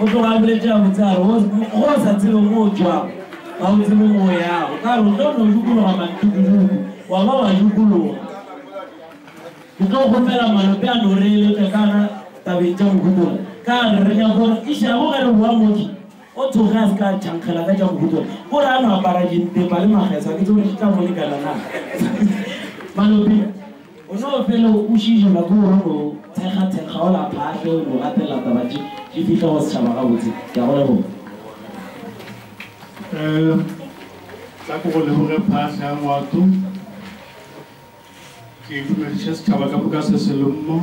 O tloga a boletše gabotse a re, Ge o sa tsebe mo o tšwago, ga o tsebe mo o yago. Ka re o tlo no dukologa mantukuduku, wa ba wa dukologa. Ke tlo kgopela Malope a no re eletša ka ga tabeng tša Mohutola. Ka re re nyaka gore išago ge re boa motse, o tsoge a se ka a tšhankgela ka tša Mohutola. Ko re a no apara dimpepa le mageso, a ke tsebe gore di tla mo lekana na. Malope. O no fele o kwešišelwa ke gore o no thekgathekga o la phahle, o no gatelela taba tše di fihla go setšhaba gabotse. Ke a go leboga. Ee, tla ke go leboge phahle ya ngwato. Ke dumediše setšhaba ka moka se se le mo.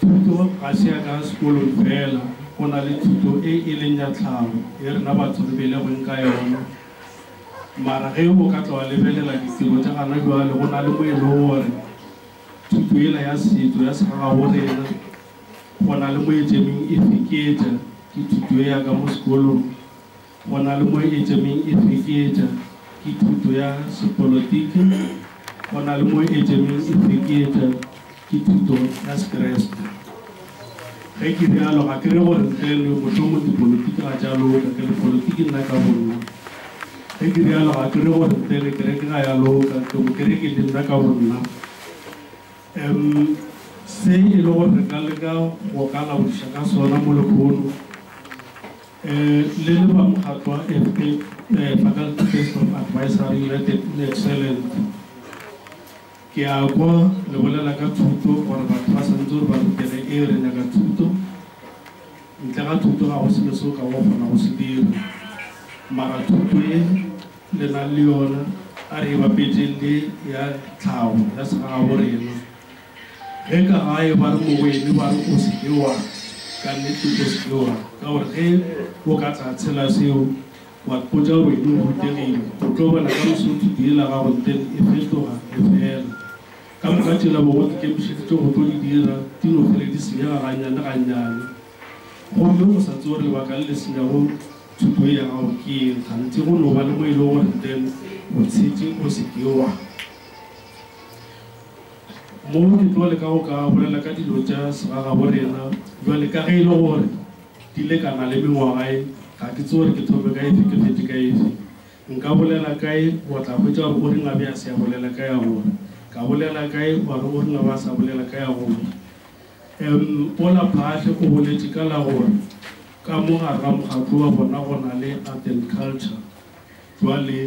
Thuto ga se ya ka sekolong fela, go na le thuto e e leng ya tlhago ye rena batho re belegweng ka yona. Mara ge o ka tla wa lebelela ditiro tša gana bjale, go na le mo e lego gore thuto yela ya setšo ya segagaborena go na le mo e tšemeng e feketša ke thuto ye ya ka mo sekolong. Go na le mo Edjemeng e fekeetša ke thuto ya sepolotiki, go na le mo Edjemeng e fekeetša ke thuto ya Sekreste. Ge ke bjalo, ga ke re gore ntle le mohlomong dipolotiki ga tša loka, ke le polotiki nna ka bonna. Ge ke bjalo, ga ke re gore ntle le kereke ga ya loka, ke mokereke le nna ka bonna. Em, se e le gore re ka leka go ka laodiša ka sona mo lekhono, Le le ba mokgatlo wa FPAD, Faculty Based of Advisory United in Excellent, ke a kwa le bolela ka thuto gore batho ba swanetše gore ba rutege. Ee, re nyaka thuto. Ntle ga thuto ga go selo se o ka go kgona go se dira. Mara thuto ye le nang le yona a re e bapetšeng le ya tlhago ya segagabo rena, Ge ka gae ba re Mogoeni ba re o se ke wa, ka nnete o se ke wa, ka gore ge o ka tla tshela seo wa mpotša gore wena o rutegile, o tlo bona ka moso thuto yela gago nteng e fetoga e fela. Ka moka tšela bogo dikemišeditše go tlo di dira di no fele di senyega gannyane gannyane. Gomme o sa tsebe gore lebaka le le senyago thuto ye ya gago ke eng, kganthe go no ba le mo e lego gore nteng o tshetše o se ke wa. Mo re tlo leka go ka bolela ka dilo tša segagaborena bjale. Ka ge e le gore di lekana le mengwaga ye, ga ke tsebe gore ke thome ka efe ke phethe ka efe. Nka bolela ka ye, wa tla hwetša gore o reng a be a se a bolela ka ya gore. Ka bolela ka ye, wa re o reng a be a sa bolela ka ya gore. Em, Pola Phaahli o boletše ka la gore ka mo gare ga mokgatlo wa bona go na le Art and Culture. Bjale,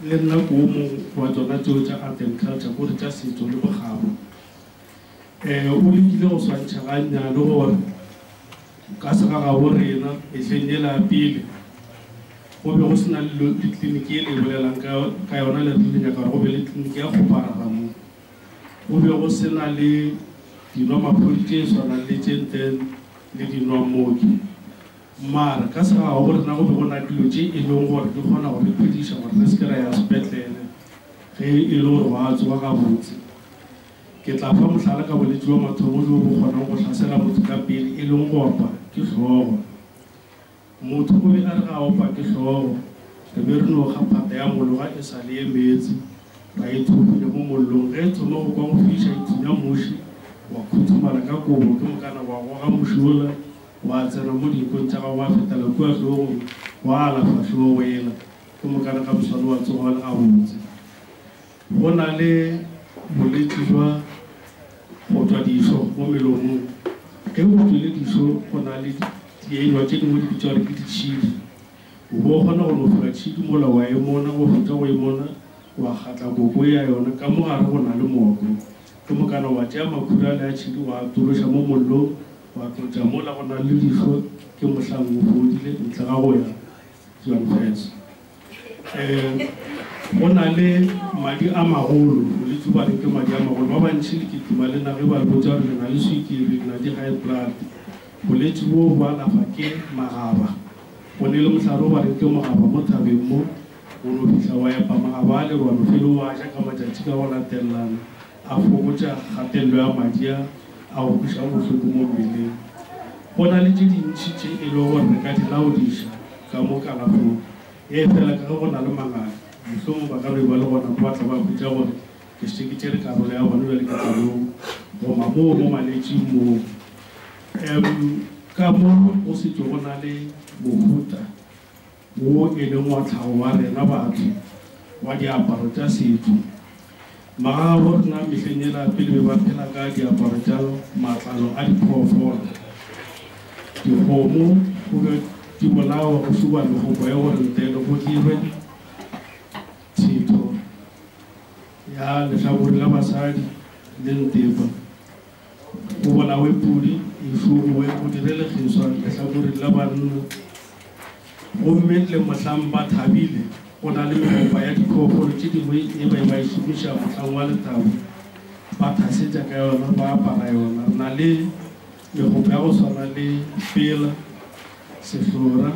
le nna ke wo mongwe wa tšona tšeo tša art and culture, ko re tša setšo le bokgabo. Eh, o lekile go swantšha gannyane gore ka segagabo rena mehleng yela ya pele go be go se na le kliniki e le e bolelang ka, ka yona le re le nyaka gore go be le kliniki ya kgoparara mo. Go be go se na le dinwamaphodi tše swanang le tše ntle le dinwammoki. Mara, ka segagabo go rena go be go na le dilo tše e lego gore di kgona go re phediša gore re se ke ra ya sepetlele ge e le gore wa a tsoga gabotse. Ke tla fa mohlala ka bolwetši bja mathomo bjo bo kgonago go hlasela motho ka pele e lego go opa ke hlogo. Motho o be a re ge a opa ke hlogo, re be re no kga phata ya mologa e sa le e meetse, ra e thuhunya mo mollong. Ge e thoma go kwa go fiša e thunya muši, wa khuthumala ka kobo, ke mokana wa goga muši wola. Gwa tsena mo dimpong tša gagwe, gwa fetela kua hlogong, gwa ala fahlogo go ela, ke mokane ga moswane wa tsoga o le gabotse. Go na le boletši bja go twa dihlo mo melomong. Ge go twile dihlo go na le dielwa tše dingwe di bitšwa gore ke ditšhidi. O be o kgona go lofola tšhidi mola wa e mona, go fetša go e mona wa kgatla koko ya yona ka mo gare go na le moko, ke mokana wa tšea makhura ale a tšhidi wa a tološa mo mollong, Gwa tlotša mola go na le dihlo ke mohlang o fodile, ntle ga go ya John Fans. Ee, go na le madi a magolo, boletše ba re ke madi a magolo. Ba bantši le kitima le na ge ba re botša gore le na le swikiri, le na di high blood. Boletše boo bo alafwa ke magaba. Go ne le mohlare o ba reng ke mogaba mo thabeng mo, o no fihla wa epa magaba ale, wa no felo wa ja ka matšatši ka go latelelana. A fokotša kgatello ya madi a a go kweša bohloko mo mmeleng. Go na le tše dintši tše e lego gore re ka di laodiša ka mo kalafong, efela ka ge go na le mangaka, mohlomong ba ka be ba le gona kwa tla ba hwetša gore ke šetše ke tšere karolo ya bona. Bjale ke tla yo goma moo mo malwetšing moo. Em, ka mo go šetše go na le mohuta. Wo e leng wa tlhago wa rena batho, wa diaparo tša setho. Magagabo rena mehleng yela pele be ba phela ka diaparo tša matlalo a diphoofolo, dikgomo, go be di bolawa go šuba megokgo ya gore ntele go dirwe thetho ya lehlakore la basadi le ntepa. O bolawe pudi, e hloboe, o direle kgeswa lehlakoreng la banna. Gomme le mohlang ba thabile, go na le megopa ya diphoofolo tše dingwe ye ba eba e šomiša mohlang wa lethabo, ba thasetša ka yona, ba apara yona. Re na le megopa ya go swana le pela, sehlora,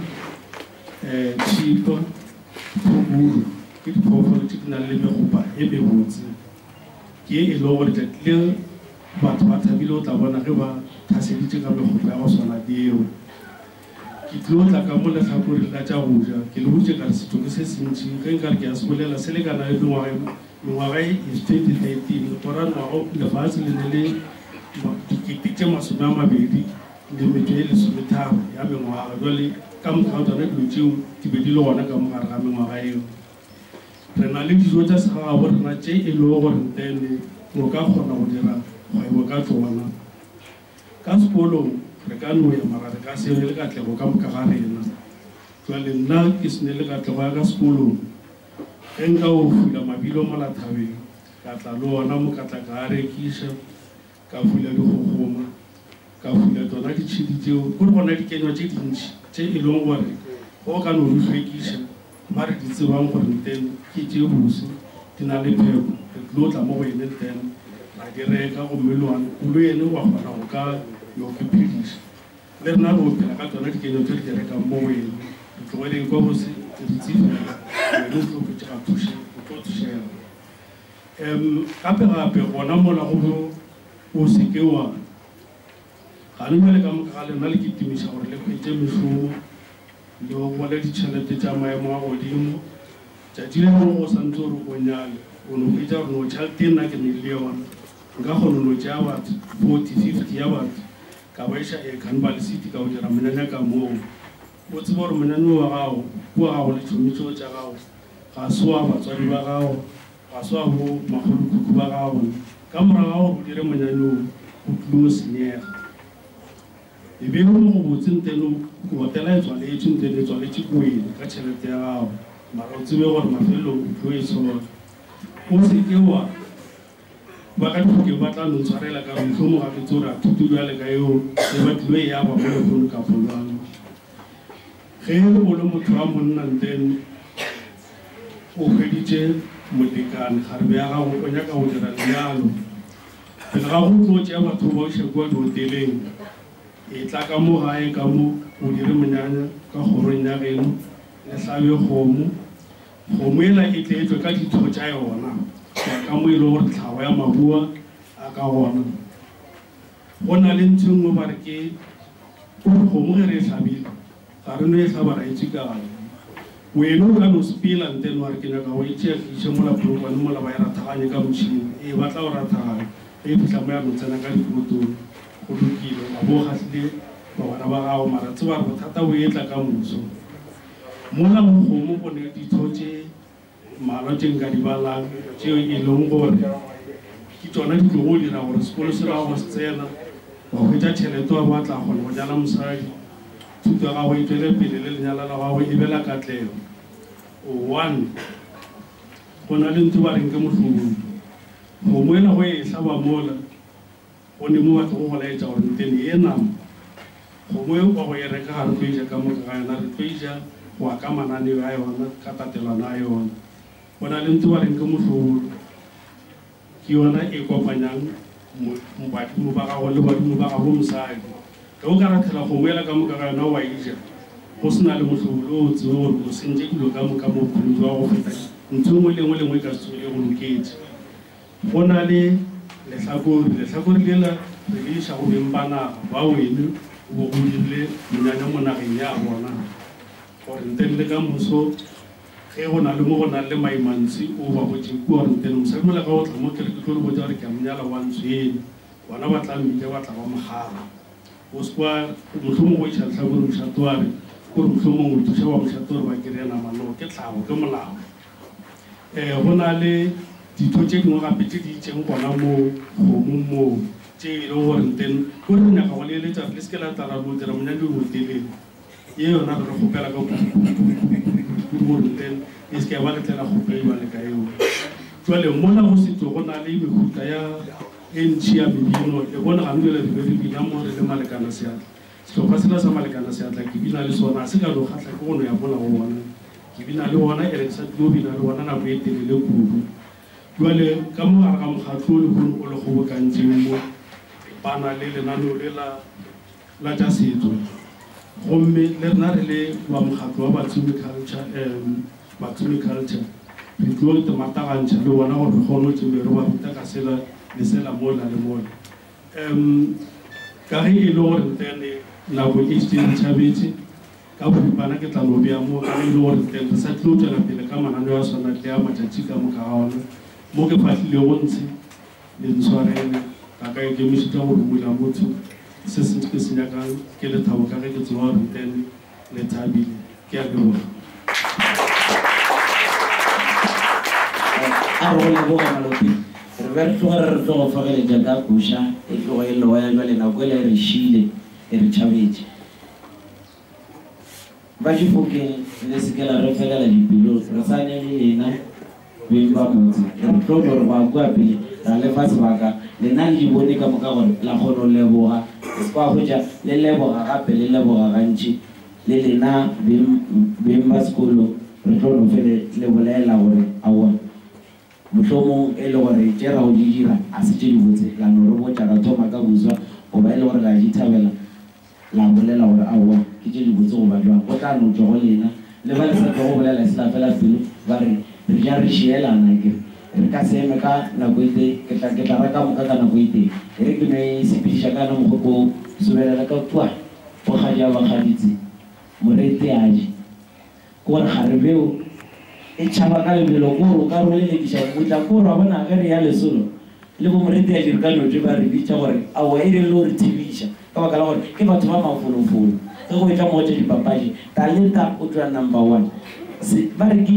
um tšhipa, phubulu. Ke diphoofolo tše di nang le megopa e mebotse. Ke e lego gore tlatlileng batho ba thabile go tla bona ge ba thaseditše ka mekgopho ya go swana le yeo. Ke tlilo tla ka mo lehlakoreng la tša go ja, ke le boditše ka re setšo ke se sentši, ge nka re ke a se bolela se lekana le mengwaga ye mengwaga ye is 2013 go ra ngwaga lefase le ne le dikete tše masome a mabedi le metšo ye lesometharo ya mengwaga, jwale ka moka ga tsona dilo tšeo di be di le gona ka mo gare ga mengwaga yeo. Re na le dijo tša segagaborena tše e lego gore ntle le o ka kgona go dira kgwebo ka tšona. Ka sekolong re ka no ya mara re ka se ne le katlego ka moka ga rena. Bjale nna ke se ne le katlego ya ka sekolong. Ge nka o fula mabilo mola thabeng, ka tla le ona mokatla ka a rekiša. Ka fula di kgokgoma, ka fula tšona ditšhedi tšeo, go le gona dikenywa tše dintši tše e lego gore ge o ka no di hlwekiša, ba re di tsebang gore ntene ke tše bose, di na le pheko, re tlilo tla mo go ene ntene ra di reka gomme loan o lo ene wa kgona go ka yo ke phediša. Le rena re yo phela ka tšona dikenywa tše re di rekang mo go ene, re tloge re ekwa go se, o dutse fela, wena o tlo hwetšega thuše, o tlo thušega. Em, gape-gape, gona mola go bo, o se ke wa. Gane bjale ka moka ga lena le kitimiša gore le hwetše mešomo, le gopole ditšhelete tša maemo a godimo. Tšatši le lengwe ge o sa ntse o re o nyale, o no hwetša gore no tšhelete ye nna ke ne le yona, nka kgona no tšea bat forty, fifty ya batho, ka ba iša Ekhan Balisiti ka go dira monyanya ka moo. O tseba gore monanyo wa gago ke wa gago le tšhomi tšeo tša gago, ga se wa batswadi ba gago, ga se wa bo makgolokhukhu ba gago. Ka morago ga gore o dire monanyo wo, o tlile go senyega. E be e le mo gobotse nteno hotela e tswaletšwe, nteno e tswaletše ko wena ka tšhelete ya gago, mara o tsebe gore mafelelong o tlo e tshora. O se ke wa. Ba ka thokelo ba tla no tshwarela ka re, Mohlomong ga re tsoge ra thuto bjale ka yeo ge ba tlilo e aba mo lehono kapo bjang. Ge e le go le motho wa monna, ntlen o hweditše molekane, kgarebe ya gago, o nyaka go dira lenyalo, pele ga go tlo tšea batho o ba iša kua dihoteleng, etla ka mo gae ka mo, o dire monyanya ka kgorong ya geno, le hlabe kgomo, Kgomo ela e tle e tšwe ka ditho tša yona go ya ka mo e lego gore tlhago ya mabua a ka gona. Go na le ntho e nngwe ba re ke gore kgomo ge re e hlabile, ga re no e hlaba ra e tšikanya. Wena o ka no sepela ntle le wa re ke nyaka go e tšea ke e iše mola polokwane mola ba e rathaganye ka motšhini. Ee, ba tla o rathaganya ge e fihla mo ya no tsena ka dipotong. Go lokile, o ka bo o kgahlile bagwera ba gago, mara tseba gore bothata bo etla ka moso. Mola go kgomo go ne ditho tše mmalwa tše nka di balang tšeo e lego gore ke tšona di tlogo dira gore sekolo se ra go se tsena, wa hwetša tšhelete wa bo wa tla kgona go nyala mosadi, thuto ya gago e tšwele pele le lenyalo la gago e be la katlego. One go na le ntho ba reng ke mohlobodi. Kgomo e lego e hlaba mola. Go ne mo batho go go laetša gore nteng di ye nama, kgomo e nkwago ye reka ga re tlo eja ka moka ga yona, re tlo eja go ya ka mananeo a yona, ka tatelano a yona. Go na le ntho ba reng ke mohlobolo, ke yona e kopanyang mo badimo ba gago le badimo ba gabo mosadi. Ge o ka rathela kgomo yela ka moka ga yona wa eja go se na le mohlobolo o tsebe gore o sentše dilo ka moka mo bophelong bja gago go feta ntho e nngwe le e nngwe le e nngwe e ka se tsogego e go loketše. Go na le lehlakore, lehlakore lela re le iša go beng ba naga, ba wene o be o dirile monyanya mo nageng ya bona, gore nteng le ka moso ge go na le mo go nang le maimantswe o ba botše kua, gore nteng mosadi o la ka o tla mo, ke re ke tlo le botša gore ke a mo nyala wa ntswele, bona ba tla mmitša ba tla ba mo gala. O se kwa, mohlomong go iša lehlakore mošate wa re, ke gore mohlomong o thuša ba mošate gore ba kry-e nama, no, ke tlhago, ke molao. Eh, go na le ditho tše dingwe gape tše di itšeng gona moo kgomong moo, tše e lego gore nteng ko re nyaka go le eletša re le se ke la tla ra lo dira monyadi o motelele, ye yona re re kgopela ka kudukudukudukudu gore nteng e se ke ya ba letlela kgopelwa le ka eo. Jwale mola go setšo go na le mehuta ya e ntši ya mebino, le bone gabjale re be re bina mo re le malekana seatla. Sehlopha sela sa Malekana se a tla ke bina le sona. A se ka no kgahla ke go no ya mola go bona. Ke bina le bona, ke re ke sa tlilo bina le bona nako e telele kudu. Bjale, ka mo gare ga mokgatlo o lehono o le kgobokantšeng mo, ba na le lenaneo lela la tša setso. Gomme le rena re le ba mokgatlo wa Batsimi Culture, um, Batsimi Culture, re tlilo tematagantšha le bona gore re kgone go tšemeroba ruta ka sela le sela mola le mola. Umm ka ge e le gore ntle le nako ke šetše ke tšhabetše, ka boripana ke tla no bea mo ka ge e le gore ntle re sa tlilo tšwela pele ka mananeo a swana tle a matšatši ka moka ga ona mo ke fahlilego ntshe. Le ntshwarele ga ka ikemišetša go rumolla motho se sentši ke se nyakang ke lethabo ka ge ke tseba gore ntle le le thabile ke a leboga a re go leboga malope re be re tloge re re tlo go fogeletša ka koša e tlogo e loya jwale nako ele e re šile e re tšhabetše ba difokeng le se ke la re felela dipelo re sane le lena Beng ba motse, ke re tlo gore gwa kua pele ra le fa sebaka, lena le di bone ka moka gore la kgona go leboga, kwa hwetša le leboga gape le leboga gantši, le lena beng, beng ba sekolo, re tlo no fele le bolela gore, aowa, mohlomong e le gore tše ra go di dira ga se tše dibotse, la no re botša ra thoma ka buswa, goba e le gore la di thabela. La bolela gore, Aowa, ke tše dibotse go ba bjang. Go tla no tšwa go lena le ba le sa tlogo bolela se la fela pelo, ba re, Re ja re šielana, ke re, Re ka se eme ka nako e tee, ke tla, ke tla ba ka moka ka nako e tee. E re ke no e sepediša ka yona mogopo woo, subelela ka kua, bokgadi a ba kgaditse, Moreteadi. Gore kgarebe o e tšhaba ka lebelo kore o ka rolelekiša go botša kore wa bona ge re ya lesolo le bo Moreteadiri ka Notwe ba re bitša gore aowa e rile o re thibiša ka baka la gore ke batho ba mafolofolo ge go etla mo go tša dipapadi Talenta o tšwa number one se ba re ke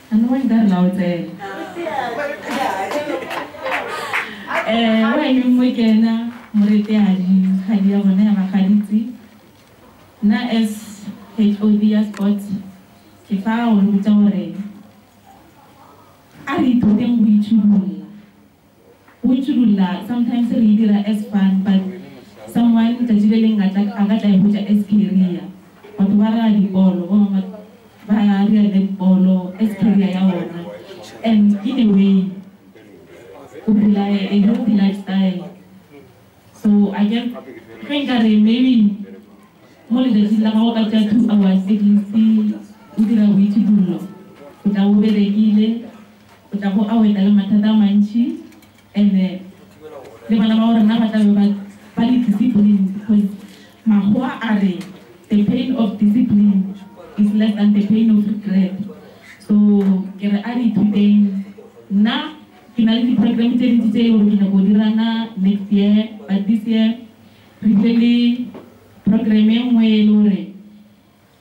A no wa nka re la o tsena. Eh, wa e neng mo kena, moreteadi, kgadi ya bona ya magaditsi. Nna as HOD ya sport, ke tla go botša gore a re ithuteng go itšhidulla. We tšhudulla sometimes re e dira as fun but someone tšatši le leng a tla a ka tla e hwetša as career. Batho ba raga dibolo, ba bangwe ba dira netball as career ya bona and in a way o phela a healthy lifestyle. So I guess ge nka re maybe mo letšatšing la gago ka tšea two hours at least o dira boitšhudullo o tla bo berekile. O tla bo a wena le mathata a mantši, and-e le bana bao rena ba tla be ba ba le disciplined, because makgowa a re the pain of discipline is less than the pain of regret. So ke re a re ithuteng. Nna ke na le di-programme tše dintši tše e le gore ke nyaka go di run-a next year, but this year re bile le programme e nngwe e le gore,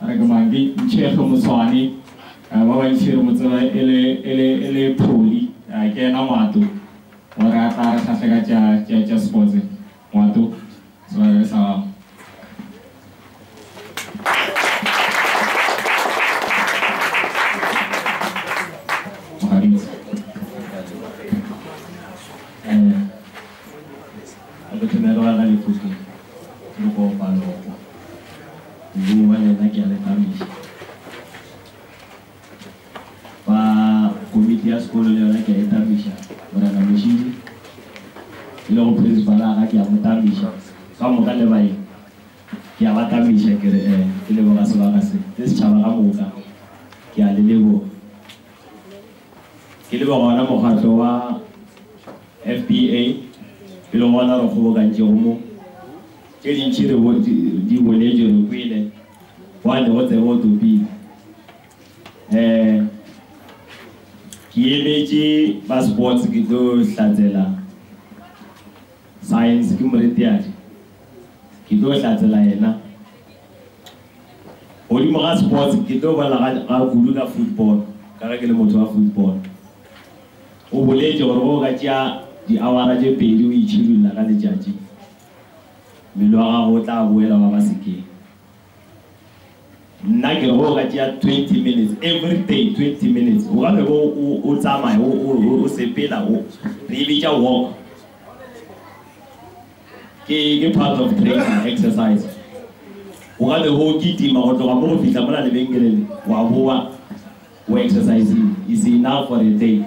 Are ke mang? Ke Ntšhege Motshwane. Ba bantši re mo tseba e le, e le, e le Pholi. Ke yena Ngwato. O re a tla a re hlahle ka tša, tša, tša sports. Ngwato, sebakare sa gago. Modimo wa lena ke a le thabiša. Ba komiti ya sekolo le yona ke a e thabiša. Morena Mošidi, e lego Principal wa ka ke a mo thabiša. Ka moka le baeng ke a ba thabiša ke re eh, ke leboga sebaka se, le setšhaba ka moka ke a le leboga. Ke leboga wona mokgatlo wa FBA e lego wona o re kgobokantšego mo. Tše dintši re di boletše, re kwele, wa tle go tsebe o topile. Ke emetše ba sports ke tlo hlatsela Science, ke moreteadi, ke tlo hlatsela yena. Godimo ga sports ke tlo bolela ga kudu ka football ka ge ke le motho wa football. O boletše gore ge o ka tšea di-hour-a tše pedi o itšhidulla ka letšatši, Mmele wa gago o tla boela wa ba sekeng. Nna ke re go ka tšea twenty minutes everyday, twenty minutes o ka be bo o o tsamaya o o o o sepela o re e bitša walk. Ke ke part of training exercise. O ka be bo o kitima go tloga mo go fihla mola lebenkeleng wa boa o exercise-ile is enough for a day.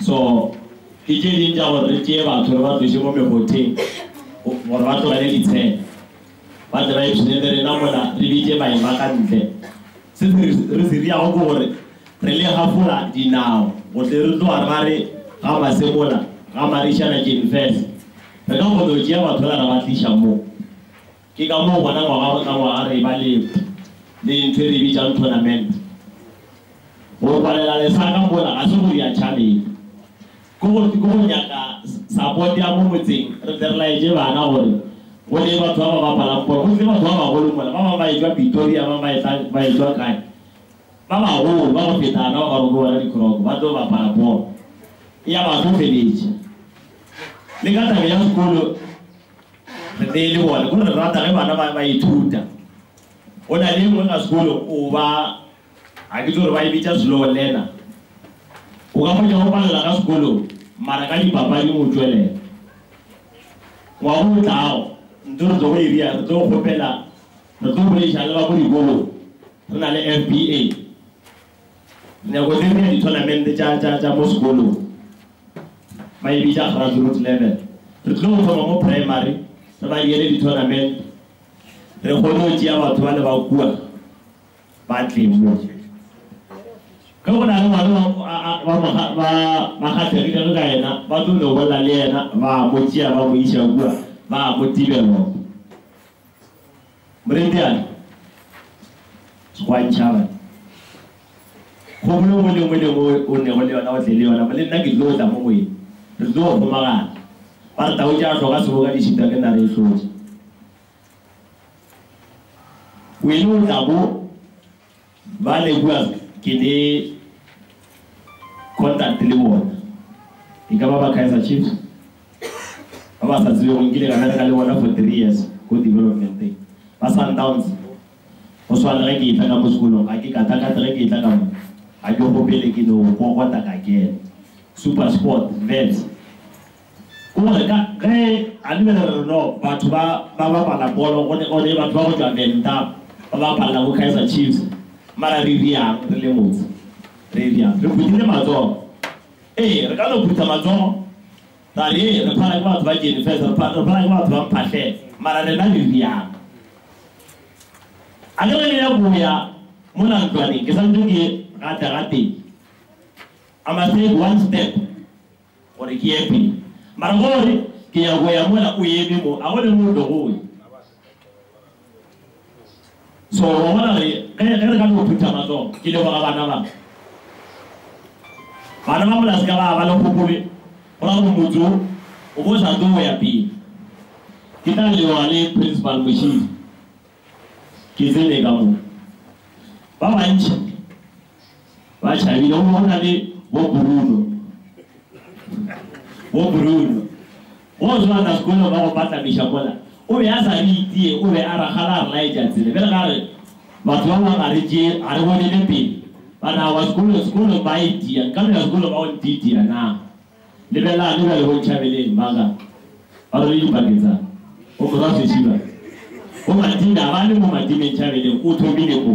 So, ke tše ding tša gore re tšee batho re ba tloše mo megotheng gore ba tlogele ditshele, ba tle ba ipshine le rena mola, re bitše maeba ka ntle. Se re se riago ke gore re le hafola dinao go tle re tloga ra re ga Masemola, ga Marišana Jenifes, re ka kgona go tšea batho ra ba tliša mo. Ke ka moo gona ngwaga go tla ngwaga re eba le le ntho e re e bitšang tournament. Go rwalela lesaka mola ga se go dira tšhabeng. Ke go, ke go nyaka support ya mo motseng, re tle re laetše bana gore go ne batho ba ba bapalang bolo. Go tle batho ba bagolo mola, ba bangwe ba e-tšwa Pretoria, ba bangwe ba e-tla, ba e-tšwa kae, ba bagolo ba go feta rena ba ba roko bona dikroko, ba tlo bapala bolo. Eya ba tlo feletša le ka taba ya sekolo. Re be e le bone, o re rata ge bana ba ba ithuta. Go na le engwe ka sekolo o ba, ga ke tso re ba e bitša slow learner. O ka hwetša o palela ka sekolong mara ka dipapading o tšwelela. Ngwaga o tlago ntho re tlo go e bea, re tlo kgopela, re tlo boleiša le ba ko dikolong re na le FBA. Dinako tše dingwe dithonamente tša, tša, tša mo sekolong, maybe tša grassroot level, re tlilo go thoma mo primary, re ba diele dithonamente, re kgone go tšea batho ba le ba kua ba tle mo. Ge go na le ngwana wa, a, a, ba mo, ba, ba kgathegile ge ka yena, ba tlo no bolela le yena, ba mo tšea ba mo iša kua, ba mo tibelop. Morebiane, Sekgoantšhaba, kgobolo nngwe le nngwe le nngwe o nego le yona o tle le yona, mo le nna ke tlo tla mo go ena, re tlo kgomagana. Ba re tau tša hloka seboka di šitwa ke nare e hlotša. Wene o tla bo. Ba le kua ke le contact le bona. E ka ba ba Kaizer Chiefs. Ba ba sa tsebe go nkile ka bereka le bona for three years ko development thing. Ba Sundowns. Go swana le ge ke etla ka mo sekolong. Ga ke katakate ge ke etla ka mo. Ga ke kgopele ke no kokota ka kena. Super Sport, Wits. O re, Ka ge a le re re no batho ba ba bapala bolo, o ne, o ne batho ba go tšwa Venda ba bapalla bo Kaizer Chiefs, mara re riang re le motse? Re riang? Re phuthile matsogo. Ee, re ka no phutha matsogo, ra re, Ee, re phala ke batho ba Jane Fest, re phala, re phala ke batho ba Mphahlele, mara rena re riang? A ke re le ya go ya mola ntlwaneng, ke sa ntse ke gatla gatee. I must take one step. Gore ke ye pele. Mara gore ke ya go ya mola o eme mo, a go ne mo tlogo go ya. So, wa bona gore ge, ge re ka no phutha matsogo, ke leboga bana ba. Bana ba mola se ka ba ba le kgopolo, go ra gore motse wo, o bo o sa tlo go ya pele. Ke tla leboga le Principal Moshidi, ke tsene ka mo. Ba bantši. Ba tšhabile gomme go na le bo Bruno. Bo Bruno. Go se batla sekolo ba go patlamiša mola. O be a sa re itie, o be a rakgala a re laetša tsela. Bjale ga re batho ba bangwe ga re tšee, ga re bonele pele. Ba re aowa sekolo, sekolo ba a itia. Nka no ya sekolo ba o ntiitia na? Lebelelang ge bjale bo Ntšhabeleng ba ka ba rwele dipaki tsa bo morwa Sesiba. Bo Matime ga ba le mo Matime Ntšhabeleng o thomile mo.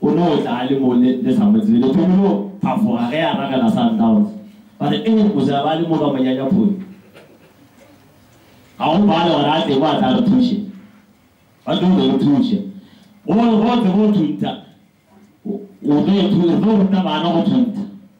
O no tla a le mo le, le sa mo tsebe. Le thomile go phafoga ge a ragela Sundowns. Ba re, Ee, mose a ba le mo ka monyanyaphodi. Ga go bale gore a tle mo a tla re thuše. Ba tlo go re thuša. Go, go tle go thuntha. O, o tlo, re tlo ruta bana go thuntha.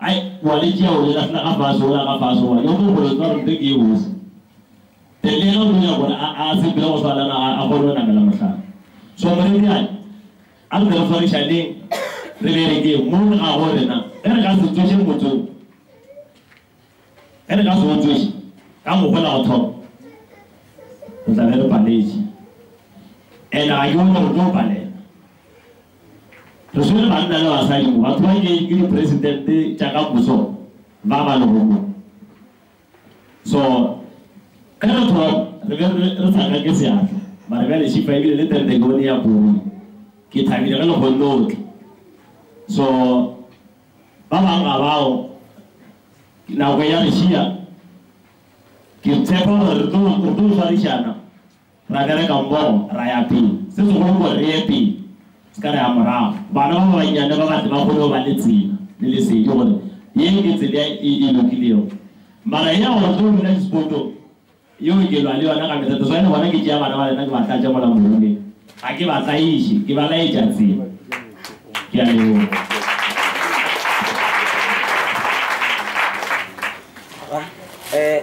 Ai, wa le tšea o le lahla ka fase ola ka fase goba yo mongwe gore nka rente ke ye bose. Then le yena o tlo nyaka gore a a sepele go swana na a kgone go namela mohlala. So morediane, a re tle re swarišaneng re berekeng mo re ga gore na ge re ka se tsoše motho ge re ka se o tsoše ka mokgwa la go thoma re tla be re paletše and ga ke bone gore tlo palela. Re swere banna le basadi ba tshwanyetšwe ke dipresidente tša ka moso ba ba lehono. So, ge re thoma, re be re re sa kake seatla, mare bjale Shifa ebile le tente ke bone e ya puri. Ke thabile ge le kgonne go tla. So, ba bang ga bago, nako e ya re šiya. Ke tshepa gore re tlo, re tlo swarišana. Ra bereka mmogo, ra ya pele. Se segolo gore re ye pele, se ka re ya morago. Bana ba bannyane ba ba tle ba kgone go ba le tsela le lesedi gore ye ke tsela e e lokilego. Mara ye ya gore re tlo bina dispotong, yeo ke lwa le yona ka mehla. That's why le bona ke tšea bana ba lena ke ba tlatša mola moholeng. Ga ke ba tlaiše, ke ba laetša tsela. Ke a leboga. Ra, eh.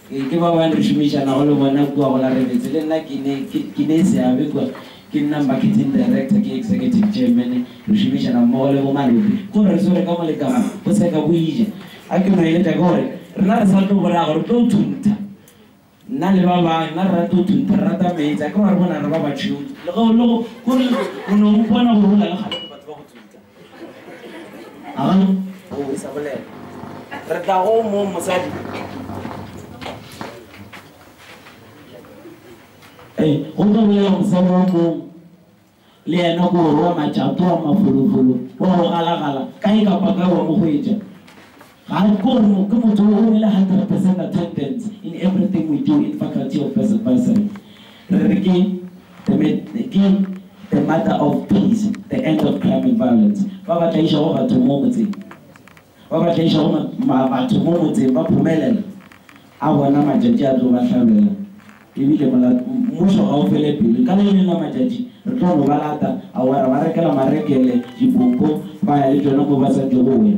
Ee, ke bao ba re šomišanago le bona kua go la Rebetse. Le nna ke ne, ke, ke ne seabe kua. Ke nna Marketing Director, ke Executive Chairman. Re šomišana mmogo le bo Malope gore re swere ka mo le ka mo, go se ka go ija. A ke no eletša ke gore, rena re sa tlo bolaya gore re tlo thuntha, nna le ba bangwe, rena re rata go thuntha, re rata meetse. A ke no re bona re ba batšheu, le ge o le go, go re, o no mpona gore o na le kgahlano le batho ba go thuntha. Re tla go mo mosadi. Ee, go tlo bolela mosadi wa tlong le yena ko wa matšato wa mafolofolo wa go galagala kae kapa kae wa mo go etša Ga re kwe gore ke motho yo o rile hundred percent attendance in everything we do in Faculty of First Advisory. Re re ke the ke the mother of peace, the end of crime and violence. Ba ba tlaišago batho mo motseng, ba ba tlaišago batho mo motseng ba phomelela, a bona matšatši a tlo ba hlabela. E bile mmušo ga o fele pelo, ka le lengwe la matšatši re tlo no ba lata, aowa ra ba rekela marekele, dipompo, ba ya le tšona mo ba sa tlego go ya.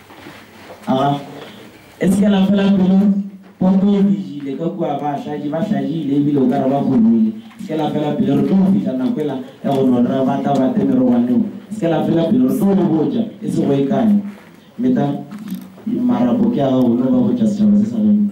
A e se ke la fela pelo, pompo e dijile ka kua, bahlaji ba hlajile e bile o ka re ba kgobile. Se ke la fela pelo, re tlo go fihla nako ela ya go no re ba tla ba te merogwaneng. Se ke la fela pelo, re tlo go botša e se go e kae. Meta, marapo ke a gago, no ba botša setšhaba se sa gaeno.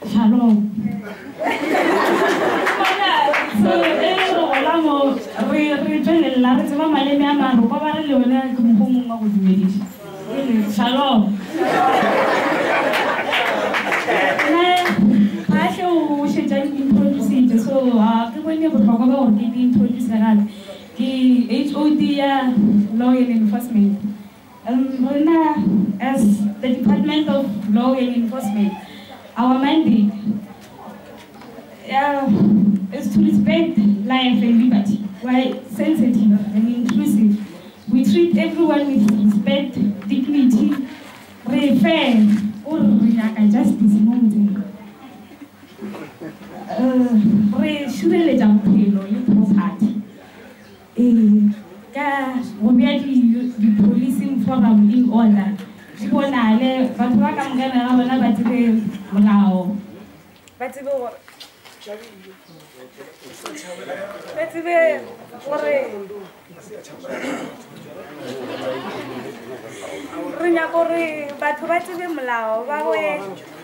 Shalom. Bona, so, e le go gola mo, re, re tšwelelela, re tseba maleme a maro, kwa ba re le yone ke mokgwa o mongwe wa go dumediša. E le, Shalom. Nna, Phahle o šetša introducitše, so, ga ke bone bohlokwa ba gore ke di introduce gape. Ke HOD ya Law and Enforcement. Rena as the Department of Law and Enforcement, our mandate is to respect life and liberty. We are sensitive and inclusive. We treat everyone with respect, dignity, re fair, o re re nyaka justice mo motseng. Re šireletša bophelo le property. Ee, ka go bea di, di-policing forum in order, di bonale, batho ba ka moka ga bona ba tsebe molao, ba tsebe gore, ba tsebe gore re nyaka gore batho ba tsebe molao, ba be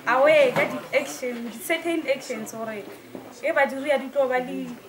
aware ka di-action, di-certain actions gore e ba di rea di tlo ba le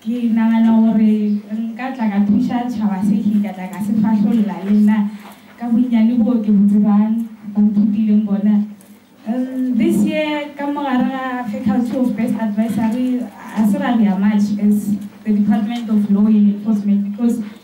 Ke nagana gore nka tla ka thuša tšhaba se ke ka tla ka se fahlolla le nna ka bonnyane boo ke bo tsebang, bo nthutileng bona. This year ka mo gare ga Faculty of Best Advisory, ga se ra loya much as the Department of Law and Enforcement because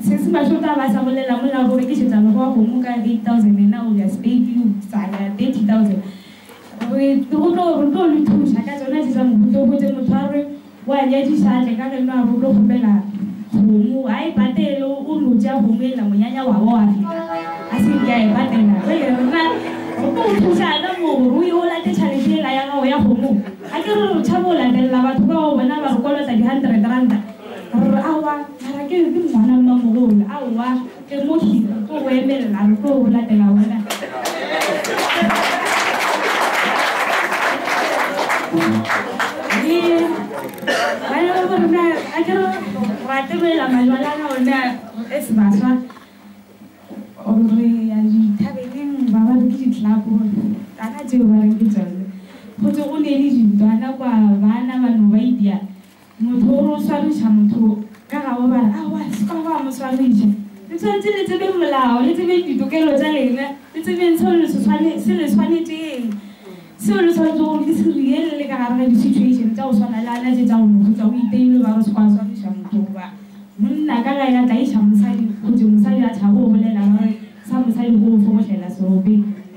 Sesi Mašota a ba a sa bolela mola go rekišetša mekgwa wa kgomo ka 8000 yena o ya Spade u sa ya 30000 re go tlo re tlo le thuša ka tšona tše tša mohuta o hwetše motho a re o a nyadiša a tle ka geno a re o tlo kgopela kgomo a e patele o no tšea kgomo ela monyanya wa wa wa feta a se nke a e patela jwale rena re tlo go thuša ka moo gore o ye o late tšhalete ela ya gago ya kgomo a ke re re tšhaba go latelela batho bao bona ba re kolota di hundred ranta Rre, Aowa, mara ke re ke ngwana mmamogolo, aowa, tle mo Hira, tlo go emelela, re tlo go latela wena. Ee, ba ya ba gore na a ke re ra tebelela majwalana one a as baswa re ya dithabeneng ba ba re ke ditlapo kana tseo ba reng ke tsone go tse go ne le dintwana kwa bana ba no ba idia Motho o no swariša motho ka ga o ba re, Aowa, le se ka gwa mo swariša. Le tshwanetse le tsebeng molao, le tsebeng ditokelo tša lena, le tsebeng seo le se swane, se le swanetšeng, seo le swanetšego gore le se rire le le ka gare ga di-situation tša go swana le ana tše tša go no hutsa. O iteilwe ba re o se ka wa swariša motho goba monna ka ge a tlaiša mosadi, gotee mosadi a tšhaba go bolela ba re sa mosadi go go fokotlela seropeng.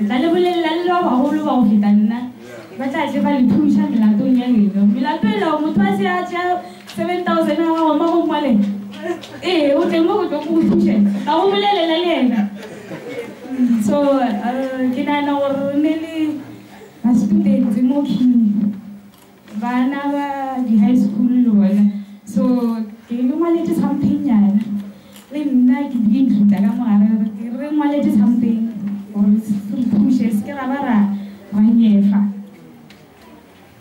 Nka le bolelela le le ba bagolo ba go feta nna, ba tla tle ba le thuša melatong ya lena. Melato e lega, motho a se a tšea 7000 ya gago mo go ngwale, Ee, o tle mo go tlo go go thuše, ka go bolelela le yena. So, ke nagana gore re ne le ba-students mo khini. Bana ba di high school le bona so ke le ngwaletše something nyana le nna ke di includer ka mogare re ke re ngwaletše something gore re phushe se ke ra ba ra ra nyefa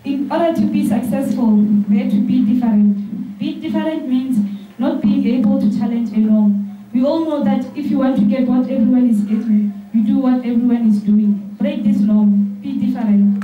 in order to be successful we have to be different being different means not being able to challenge along we all know that if you want to get what everyone is getting you do what everyone is doing break this norm be different.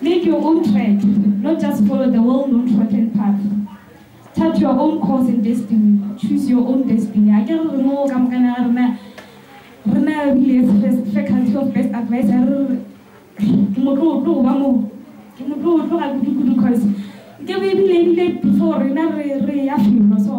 Make your own track, not just follow the well known trodden path. Chart your own course and destiny, choose your own destiny. A ke re re moo ka mokana ga rena rena rile first faculty of best advice a re ke motlotlo go ba mo ke motlotlo ga kudu kudu cause ke be ebile ebile before rena re re ya felo so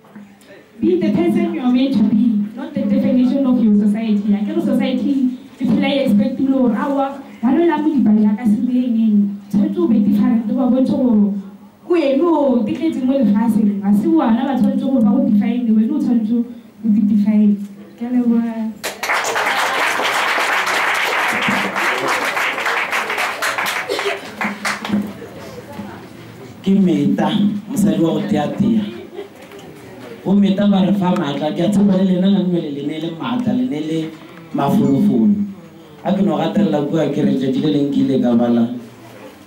Be the person you are made to be, not the definition of your society. Akere society e phela e expect le gore aowa ba lo la modipa ja ka sebe engeng. Tshwanetse o be different o ba bontšhe gore ko wene o tletšeng mo lefaseng ga se bona ba tshwanetse gore ba go define wene o tshwanetse o di define. Ke a leboha. Ke Meta, mosadi wa go teatea. Bometa ba re fa maatla. Ke a tshepa le lena la nwele le ne le maatla, le ne le mafolofolo. A ke no gatelela kua ke re, letšatši le leng ke ile ka bala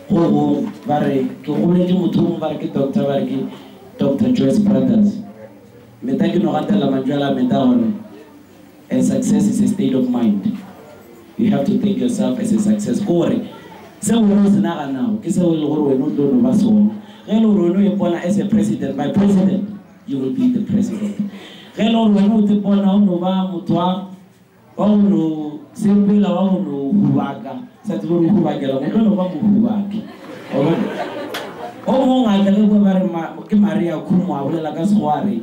go gongwe, ba re, ke goletše motho yo mongwe ba re ke Doctor, ba re ke Doctor Joyce Brothers. Meta, ke no gatelela mantšu a la Meta gore, And success is a state of mind. You have to think yourself as a success. Ke gore, seo wena o se naganago, ke seo e lego gore wena o tlo no ba sona. Ge e le gore wena o ipona as a president, my president, you will be the president. Ge e le gore wena o ts'ipona o no ba motho wa, wa go no sepela, wa go no hubaka, sa tsebe gore o hubakela eng, o tlo no ba mohubaki. Wa bona? O mongwe a tla le boe ba re, Ma, ke Maria Khumo, a bolela ka Sekgowa a re,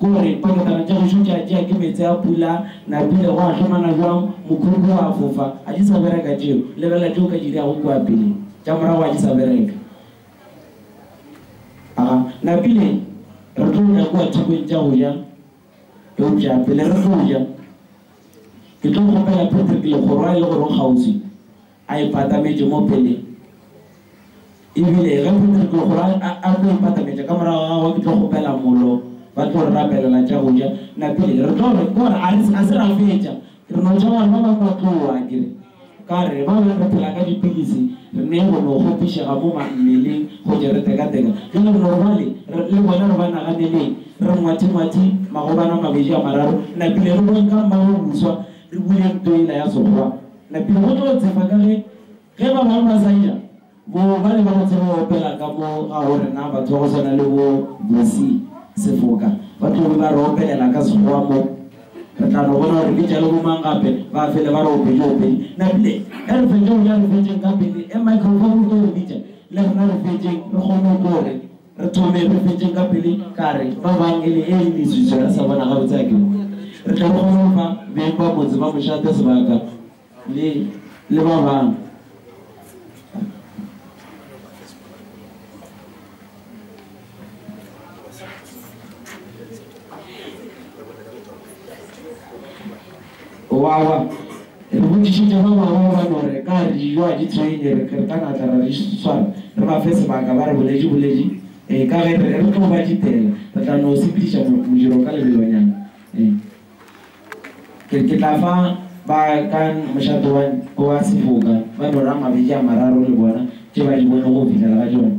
Gore poketana tša gešo tša tšea ke meetse a pula, napile gwa hlomana bjang, mokhukhu wa fofa, a di sa bereka tšeo, lebelela tše o ka di dirago kua pele, tša morago a di sa bereka. Aga, napile re tlo ya kua thekong tša go ja, eupša pele re tlo ja, ke tlo kgopela Patrick Legorwa e le gore o kgauswi. A ipatametše mo peleng. E bile ge Petro tlo go a, a tlo ipatametša ka morago ga gagwe, ke tlo kgopela mollo, ba tlo re rapelela tša go ja. Na pele re tlo re, gore a re, a se ra fetša, re no ja gore ba bangwe ba tlo wa, ke re. Ka re, ba bangwe re phela ka dipilisi, re ne go no kgopišega mo ma, mmeleng, go tšwa re tekateka. Bjale re no re bale, re, le bona re ba naganeleng, re ngwathingwathi magobane a mabedi a mararo, na pele re boweng ka mmagoboswa, re buleng ntlo yela ya Sekgowa. Re phela go tlo tshepa ka ge ge ba bangwe ba sa ja, bo ba leba go tseba go opela ka mo ga go rena batho ba go swana le bo Bosi Sefoka ba tlo be ba re opelela ka Sekgowa mo. Re tla no bona gore ke jalo bo mang gape ba fele ba re opetše opedi. Napile, ge re fetše go ja re fetšeng ka pele e microphone e tlo re bitša le rena re fetšeng re kgone go tlo re Re thome re fetšeng ka pele ka re ba bang e le eng mezwiso ya sa bona gabotse a ke mo. Re tle re kgone go fa beng ba motse ba Mošate sebaka le le ba bang. O a kwa? Re botšišitše ba bangwe ba ba no re ka re dijo a di traine, re re ka natla ra di swara re ba fe sebaka ba re bolediboledi, ee, ka ge re re re tlo ba ditela, re tla no sepediša mo, modiro ka lebelonyana. Ee. Ke, ke tla fa ba ka mošate wa, wa sefoka ba no re a mabedi a mararo le bona tše ba di bonego go fihlela ga jone.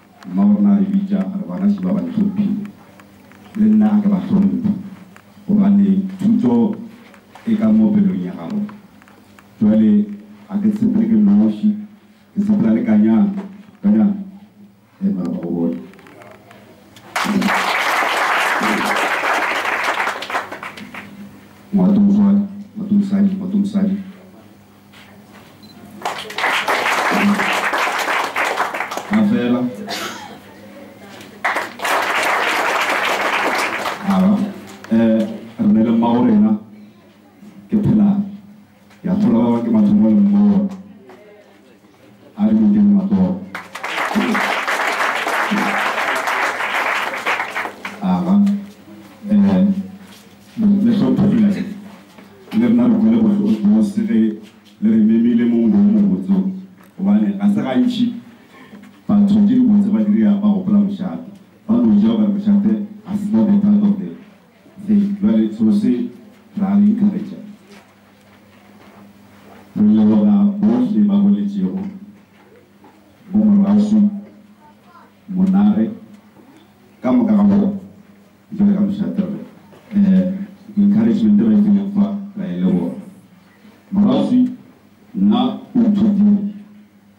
Mmabo rena a re bitša a re, Bagaši ba ba ntlhomphile, le nna a ke ba hlomphe, gobane thuto e ka mo pelong ya gago. Bjale a ke sepele ke noši, ke sepela le Kanyana. Kanyana, ee, mara ba go bone. Ngwatomoswadi, ngwatomosadi, ngwatomosadi. Gafela. Ara, eh, rene le mmago rena, ke phela, ke a thola ba ba ke mathomo le mmago. A re biditšeng matsogo. Aga. Eh, le hlompherile. Le rena re kwele bose ge le re memile mo ngweng mobotso. Gobane ga se gantši batho ke dibotse ba diria ba gopola mošate. Ba no ja o ka re mošate ga se not a part of the thing. Jwale selo se ra re encourager. Go leboga bohle ba boletšego, bo Moraswi, Monare, ka moka ga bona, jwale ka mošate re eh, encouragement re e fileng fa, ra e leboga. Moraswi, nna o nthutile.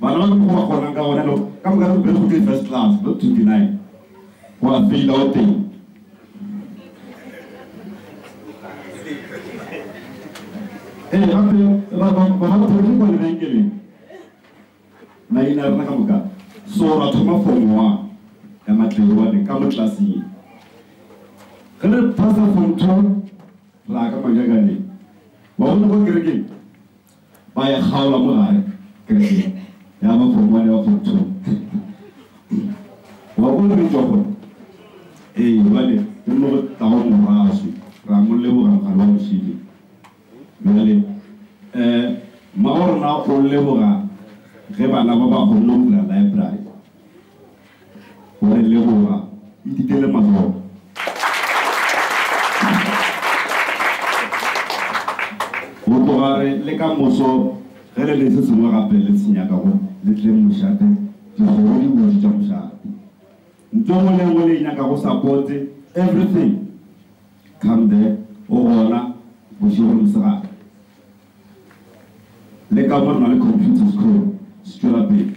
Bana ba mokgwa wa gona ka gona lo ka moka re bere go tse first class not to deny go a feila o teng ee gape ba ba ba ba thori kwa le bankele ba ina rena ka moka so ra thoma for ngwa ya matlewa le ka mo class ye ge re pasa for two ra ka magagane wa bona go kereke Ba ya kgaolwa mo gare, kerekeng ya ba form one le ba form two. Wa bona re tšwa gona? Ee, jwale ke mo re tlago moraswi, re a mo leboga mokgallo wa Mošidi. Bjale eh mma wa rona o leboga ge bana ba ba kgonne go bula library. Wa e leboga? Itikele matsogo. Go tloga re le ka moso ge le le se sengwe gape le se nyakago, le tle mošate, dikgogo di bodi tša mošate. Ntho engwe le engwe le e nyakago, sapote, everything, come there, go gona bošego le mosegare. Le ka mo re na le computers, kgole se tšwela pele.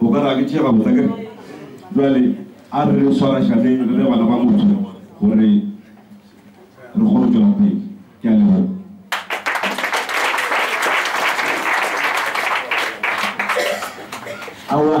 O ka re a ke tšee gabotse akere? Bjale a re re swarašaneng re le bana ba motho gore re kgone go tšwela pele. Ke a leboga. Aowa.